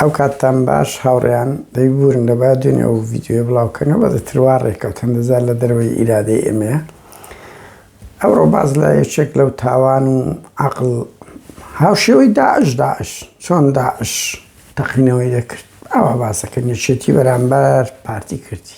ئەو کاتتان باش هاوڕێیان دەی بورن لە با دوێنێ ئەو ڤیدیۆیە بڵاو کەن و بەدە تروا ڕێکەوت هەندەزار لە دەرەوەی ئیرادەی ئێمەیە ئەوڕۆ باز لە یەکێک لەو تاوان و عقل هاوشێوەی داعش داعش چۆن داعش تەقینەوەی دەکرد ئەوە باسەکە نێچێتی بەرامبەر پارتی کردی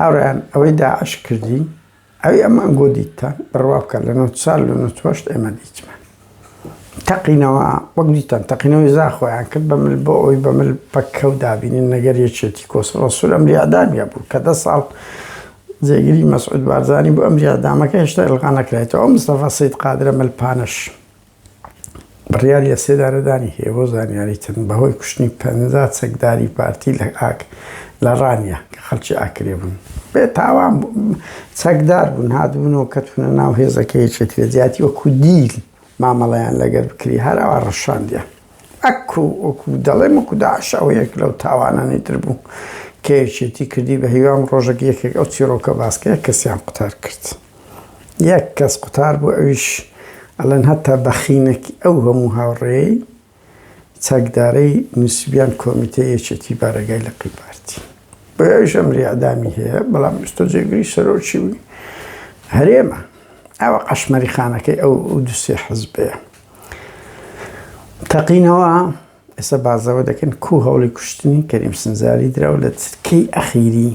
هاوڕێیان ئەوەی داعش کردی ئەوی ئەمان گۆ دیتتان بڕوا بکە لە نۆ سال لە نۆ چۆشت ئێمە دیتمان تەقینەوە وەک دیتان تەقینەوەی زا خۆیان کرد بە مل بۆ ئەوی بە مل پەککەو دابینین نەگەر یەکێتی کۆسڕە سول ئەم ریادامی هەبوو کە دە ساڵ جێگری مەسعود بارزانانی بۆ ئەم ریادامەکە هێشتا ئەلغا نەکرێتەوە ئەو مستەفا سید قادرە مل پانەش بڕیاری لەسێدارەدانی هەیە بۆ زانیاریتن بەهۆی کوشتنی پەنجا چەکداری پارتی لە ئاک لە ڕانیە کە خەڵکی ئاکرێ بوون بێ تاوان چەکدار بوون هاتبوونەوە کەتونە ناو هێزەکە یەکێتی لە جیاتی وەکو دیل مامەڵەیان لەگەر بکری هەراوا ڕەشاندیان ئەکو وەکو دەڵێ مەکو داعش ئەو یەک لەو تاوانانی تر بوو کە یەکێتی کردی بە هیوام ڕۆژەک یەکێک ئەو چیڕۆکە باسکەیە کەسیان قوتار کرد یەک کەس قوتار بوو ئەویش ئەڵێن هەتا بەخینەکی ئەو هەموو هاوڕێی چەکدارەی نوسیبیان کۆمیتەی یەکێتی بارەگای لقی پارتی بۆیە ئەویش ئەمری ئەعدامی هەیە بەڵام ئیستۆ جێگری سەرۆکی هەرێمە ئەوە قەشمەری خانەکەی ئەو دوسێ حزبەیە تەقینەوە ئێستا باس لەوە دەکەن کوو هەوڵی کوشتنی کەریم سنجاری درا و لە چرکەی ئەخیری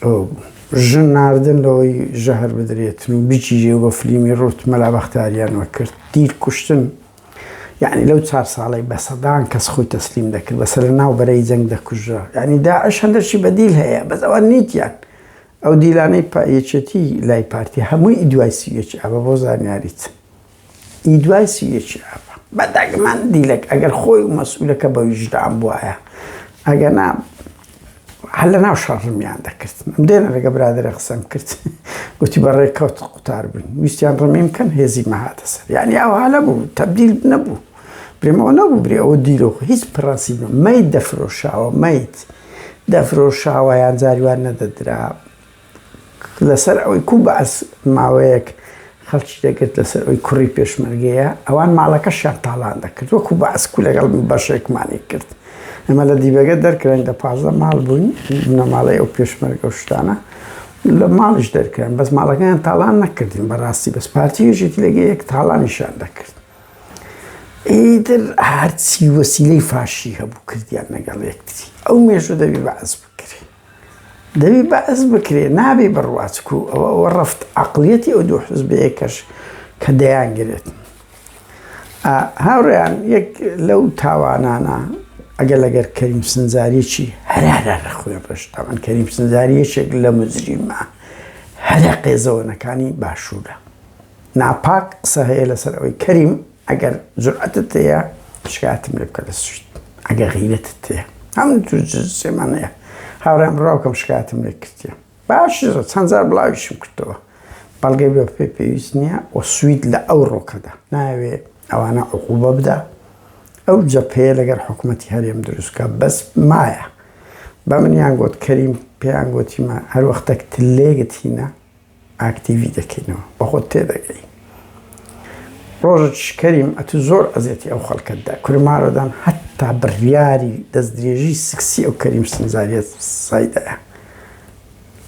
ئەوە بوو. ژن ناردن لەوەی ژەهر بدرێتن و بگیرێ و بە فلیمی ڕووت مەلا بەختاریان وەکرد تیر کوشتن یعنی لەو چار ساڵەی بە سەدان کەس خۆی تەسلیم دەکرد بەسە لە ناو بەرەی جەنگ دەکوژرا یعنی داعش هەندەرشی بە دیل هەیە بەس ئەوان نیتیان ئەو دیلانەی پا یەکێتی لای پارتی هەمووی دوای سی و یەکی ئابە بۆ زانیاریت. ی دوای سی و یەکی ئاب. بە دەگمەن دیلەک ئەگەر خۆی و مەسئولەکە بە ویژدان بوایە ئەگەنا هەر لە ناو شەڕڕمیان دەکرد دێنە لەگە برادرە قسەم کرد گوتی بە ڕێککەوت قوتار بووین ویستیان ڕمیم کەن هێزی مەهاتە سەر یعنی ئەو هەە بوو تەبدیل نەبوو برێمەوە نەبوو برێ ئەوە دیرۆخ هیچ پڕاسی مەیت دەفرۆشاوە مەیت دەفرۆشاوە یان جاریوان نەدەدرا لەسەر ئەوەی کوو بەعس ماوەیەک خەڵکی دەگرت لەسەر ئەوەی کوڕی پێشمەرگەیە ئەوان ماڵەکەشیان تاڵان دەکرد وەکوو بەعس کوو لەگەڵ بەشێکمانی کرد ئەمە لە دیبەگە دەرکراین دە پازدە ماڵ بووین بنەماڵەی ئەو پێشمەرگە و شتانە لە ماڵیش دەرکران بەس ماڵەکەیان تاڵان نەکردین بەڕاستی بەس پارتی یەکێتی لەگە یەک تاڵانیشان دەکرد ئیتر هەرچی وەسیلەی فاشی هەبوو کردیان لەگەڵ یەکتری ئەو مێژوو دەبی بەعس بکرێ دەبی بەعس بکرێ نابی بڕوا چکو ئەوە ئەوە ڕەفت عەقڵیەتی ئەو دوو حزبەیە کەش کە دەیان گرێت ئا هاوڕێیان یەک لەو تاوانانە ئەگەر لەگەر کەریم سنجاریی هەرارا لە خوێ ڕشت ئەمن کەریم سنجاری یەکێک لە مجریمە هەرە قێزەوەنەکانی باشوورە ناپاک قسە هەیە لەسەر ئەوەی کەریم ئەگەر جورئەتت هەیە شکایەتم لێ بکە لە سوید ئەگەر غیرەتت هەیە هەموو تر جنسێمان هەیە هاوڕێم بڕاوکەم شکایەتم لێ کردیە باش چەند جار بڵاویشم کردەوە بەڵگەی بە پێ پێویست نییە و سوید لە ئەو ڕۆکەدا ناوێ ئەوانە عقوبە بدا ئەو جەپەیە لەگەر حکوومەتتی هەرێم دروستکە بەس مایە بە منیان گوت کەریم پێیان گوتیمە هەروەختەک تلێگت هینە ئاکتیڤی دەکەینەوە بەخۆت تێدەگەی ڕۆژت شکەریم ئەتو زۆر ئەزێتی ئەو خەڵکەتدا کورمارۆدان هەتا بڕیاری دەستدرێژی سکسی ئەو کەریم سنجاریت سایدەیە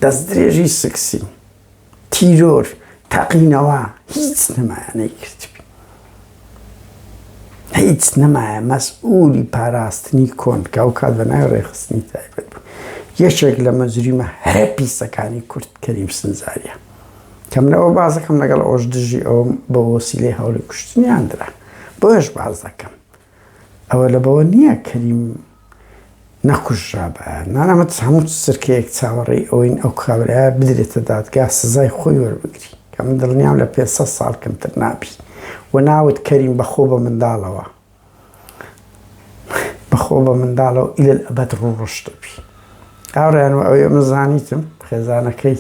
دەستدرێژی سکسی تیرۆر تاقینەوە هیچ نمایانەی کردبی هیچ نەمایە مەسئولی پاراستنی کۆن کە ئەو کات بە ناوی ڕێخستنی تایبەت بوو یەکێک لە مەجریمە هەرە پیسەکانی کورد کەریم سنجاریە کەم لەوە بازەکەم لەگەڵ ئەوش دژی ئەوم بە وەسیلەی هەوڵی کوشتنیان درا بۆش باز دەکەم ئەوە لە بەوە نییە کەریم نەکوژرابایە. نارا مەترس هەموو چرکەیەک چاوەڕێی ئەوەین ئەو کابرایە بدرێتە دادگا سزای خۆی وەربگری کە من دڵنیام لە پێ سەد ساڵ کەمتر نابی و ناوت کەریم بەخۆ بە منداڵەوە بەخۆ بە منداڵەوە ئیلە ئەبەد ڕوو ڕەش دەبی هاوڕێیان و ئەوەی ئەمە زانیتم خێزانەکەی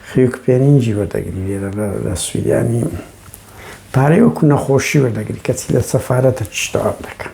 خیوک پێنینجی وەردەگری لێرە لە سویدانی پارەی وەکو نەخۆشی وەردەگری کەچی لە سەفارەتە چشتەوام دەکەن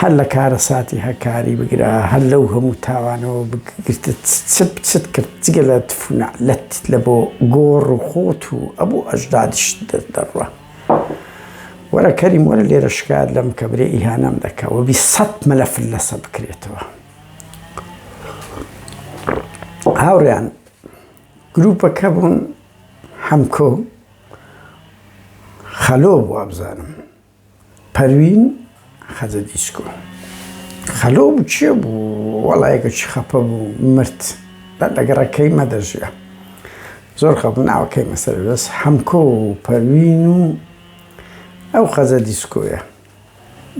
هەر لە کارەساتی هەکاری بگرە هەر لەو هەموو تاوانەوە بگرتت چت چت کرد جگە لە تف و نەعلەت لە بۆ گۆڕ و خۆت و ئەبوو ئەژدادیشت دەر دەڕوا وەرە کەریم وەرە لێرە شکایەت لەم کە برێ ئیهانەم دەکا وە بیست سەت مەلەفت لەسە بکرێتەوە هاوڕێیان گروپەکە بوون حەمکۆ خەلۆ بوو وابزانم. پەروین خەجە دیچکۆ خەلۆ بوو کێ بوو وەڵا یەکەکی خەپە بوو مرد بە لەگەڕە کەیمە دەژیا زۆر خەپ ناوە کەیمە سەر بەس حەمکۆ و پەروین و ئەو خەجە دیسکۆیە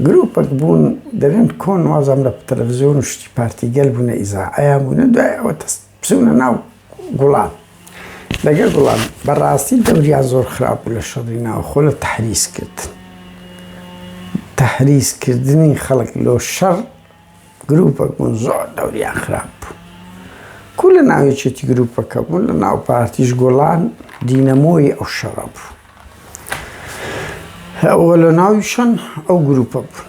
گروپەک بوون دەرێن کۆن وازام لە تەلەڤزیۆن و شتی پارتی گەل بوونە ئیزا ئەیان بوونە دوای ئەوە تەست بچونە ناو گوڵان لەگەر گوڵان بەڕاستی دەوریا زۆر خراپ لە شەڕی ناوخۆ لە تحریز کرد تحریز کردنی خەڵک لۆ شەڕ گروپەک بوون زۆر دەوریا خراپ بوو کو لە ناوێچێتی گروپەکە بوون لە ناو پارتیش گۆڵان دینەمۆی ئەو شەڕە بوو ئەوە لە ناویشان ئەو گروپە بوون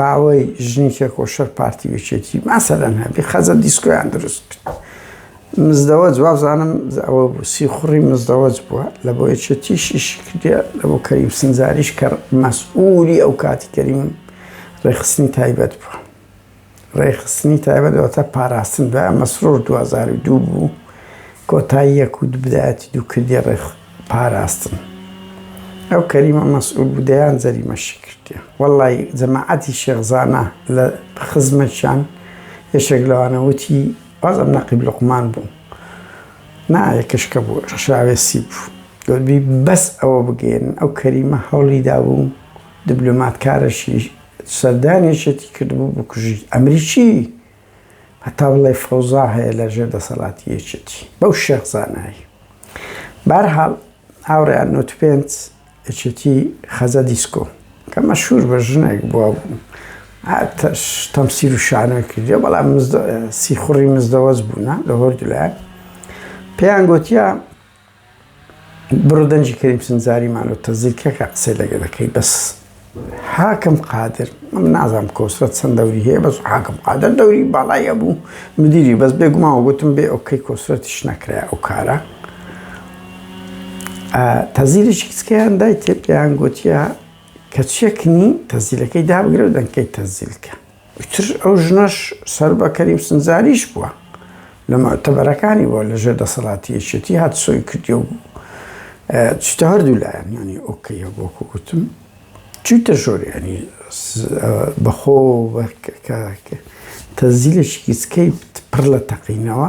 باوەی ژنی تێکۆشەر پارتی یەکێتی ماسەلەن هەبی خەزە دیسکۆیان دروست کرد مزدەوە جواب زانم ئەوە بوو سی خوڕی مزدەوەج بووە لە بۆ یەکێتیشی شکردە لە بۆ کەریم سنجاریش کە مەسئولی ئەو کاتی کەریم ڕێخستنی تایبەت بووە ڕێخستنی تایبەت ئەوتە پاراستن دوای مەسرور 2002 بوو کۆتایی یەکوت بدایەتی دوو کردی ڕێخست پاراستن ئەو کەریمە مەسئول بوو دەیان جەریمەشی کردیە وەڵای جەماعەتی شێخ زانا لە خزمەتیان یەشێک لەوانە وتی باز ئەم نەقیب لقمان بوو نا یەکەشکە بوو ڕشاوێسی بوو دەبی بەس ئەوە بگەێن ئەو کەریمە هەوڵی دابوو دبلۆماتکارەشی سەردانێشێتی کردبوو بکوژی ئەمریکی هەتا بڵێی فەوزا هەیە لە ژێر دەسەڵاتی یەکێتی بەو شێخ زانایی بارحاڵ هاوڕێیان نوت پێنج یەکێتی خەزە دیسکۆ کە مەشهور بە ژنێک بووە بوو تەمسیر و شانۆی کردی بەڵام سیخوڕی مزدەوەز بوونە لە هۆردولایەن پێیان گوتیە بڕۆ دەنجی کەریم سنجاری مانۆ تەزیکەکە قسەی لەگە دەکەی بەس حاکم قادر من نازم کۆسرەت چەند دەوری هەیە بەس حاکم قادر دەوری باڵایە بوو مدیری بەس بێگوماوە گوتم بێ ئەوکەی کۆسرەتیش نەکرای ئەو کارە تەزیریش کچکەیان دای تێ پێیان گوتیە کە چێکنی تەزیلەکەی دابگرە و دەنکەی تەزیلکە ئیتر ئەو ژنەش سەر بە کەریم سنجاریش بووە لە مەعتەبەرەکانی بووە لە ژێر دەسەڵاتی یەکێتی هات سۆی کردی و چتە هەردوو لایەن ینی ئۆکەی هەبووکو گوتم چیتە ژۆریانی بەخۆ تەزیلێکی کچکەی پڕ لە تەقینەوە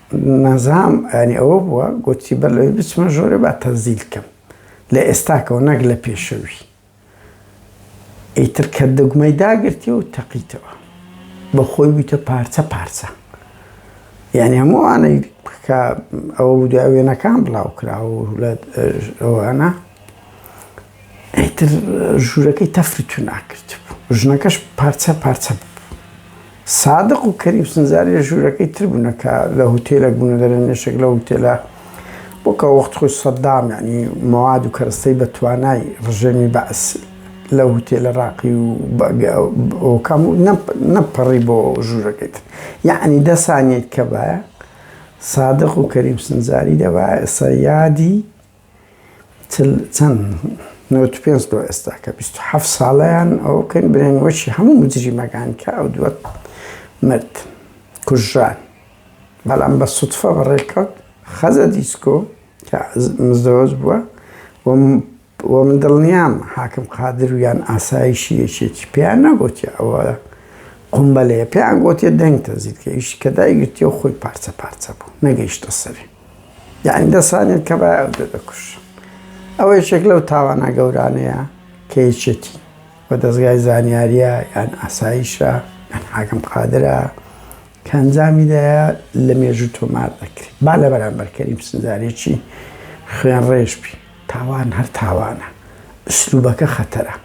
نازناوم یانی ئەوە بووە گۆتی بەر لەوەی بچمە ژۆرێ با تەنزیل کەم لە ئێستاکەوە نەک لە پێشەوی ئیتر کە دەگمەی داگرتی و تەقیتەوە بە خۆی بوویتە پارچە پارچە یعنی هەمووانەی کە ئەوە بوو دوای وێنەکان بڵاو کرا و لە ئەوانە ئیتر ژوورەکەی تەفر و تونا کردبوو، ژنەکەش پارچە پارچە ببوو. سادق و کەریم سنجاری لە ژوورەکەی تر بوونە کە لە هوتێلەک بوونە دەرێ نوێژێک لە هوتێلە بۆ کە وەخت خۆی سەدام یانی مەواد و کەرەستەی بە توانای ڕژێمی بەعس لە هوتێلە ڕاقی و ئۆکەم و نەپەڕی بۆ ژوورەکەی تر یانی دە سانیەک کە بایە سادق و کەریم سنجاری دەبایە ئێستا یادی چل چەند نەوەد و پێنج لۆ ئێستا کە بیست و حەفت ساڵەیان ئەوە بکەین بنێن وەشی هەموو مجریمەکان کە ئەو دووە مرد کوژران بەڵام بە سوتفە بەڕێکەوت خەزە دیسکۆ کە مزدەوەز بووە و من دڵنیام حاکم قادر و یان ئاسایشی یەکێکی پێیان نەگوتیە ئەوە قومبەلەیە پێیان گوتیە دەنگ تەنزیل کە ئیش کە دایگرتیەوە خۆی پارچە پارچە بوو نەگەیشتە سەری یعنی دەسانێت کە بای ئەو دە دەکوش ئەوە یەکێک لەو تاوانە گەورانەیە کە یەکێتی بە دەستگای زانیاریە یان ئاسایشە یان حاکم قادرە کە ئەنجامی دەیە لە مێژوو تۆمار دەکرێت با لە بەرامبەرکەری پسنجارێکی خوێن ڕێژبی تاوان هەر تاوانە ئسلوبەکە خەتەرە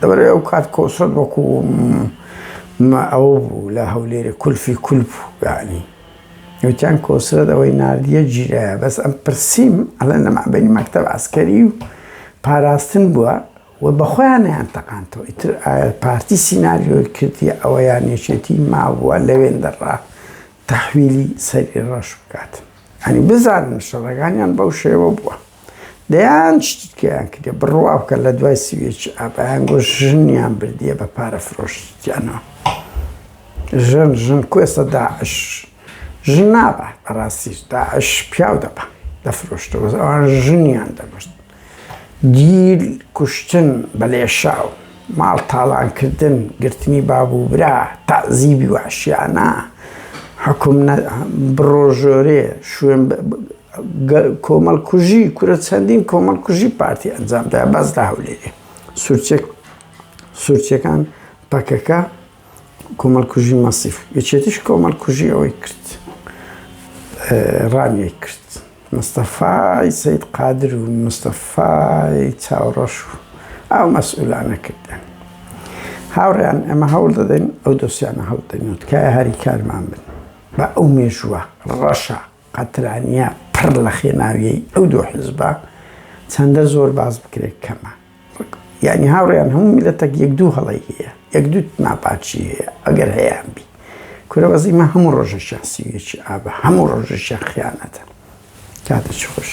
لەبەرئەوەی ئەوکات کۆسرەت وەکو مە ئەوە بوو لە هەولێرێ کولفی کول بوو یەعنی وتیان کۆسرەت ئەوەی ناردیە جیرایە بەس ئەم پرسیم ئەڵێن لە مابەینی مەکتەب عەسکەری و پاراستن بووە و بەخۆیان نەیانتەقاندەوە ئیتر ئایا پارتی سیناریۆی کردیە ئەوە یان یەکێتی مابووە لەوێندەڕا تەحویلی سەری ڕەش بکات یەعنی بزانن شەڕەکانیان بەو شێوە بووە. دەیان شتی تکایان کردیە بڕوا بکە لە دوای سی و یەکی ئاب ئەیان گۆ ژنیان بردیە بە پارە فرۆشتیانەوە ژن ژن کوێسە داعش ژن نابە بەڕاستی داعش پیاو دەبە دەفرۆشتەوە ئەوان ژنیان دەبشت گیل کوشتن بە لێشاو ماڵ تاڵانکردن گرتنی باب و برا تازیبی واشیانە حکوم بڕۆژۆرێ شوێن کۆمەڵکوژی کورە چەندین کۆمەڵکوژی پارتی ئەنجام دا باس لە هەولێرێ سورچێک سورچەکان پەکەکە کۆمەڵکوژی مەسیف یەکێتیش کۆمەڵکوژی ئەوەی کرد ڕانیە کرد مستەفای سید قادر و مستەفای چاوڕەش و ئەو مەسئولانە کردن هاوڕیان ئەمە هەوڵ دەدەین ئەو دۆسیانە هەڵدەنوتکای هەری کارمان بن بە ئەو مێژووە ڕەشە قەترانیە پڕ لە خێناویەی ئەو دوو حیزبە چەندە زۆر باس بکرێت کەمە یانی هاوڕێیان هەموو میلەتەک یەک دوو هەڵەی هەیە یەک دوو ناپاچی هەیە ئەگەر هەیان بی کورە بەزیمە هەموو ڕۆژە شانسیویەکی ئابە هەموو ڕۆژە شەخیانەتە کاتە چ خۆش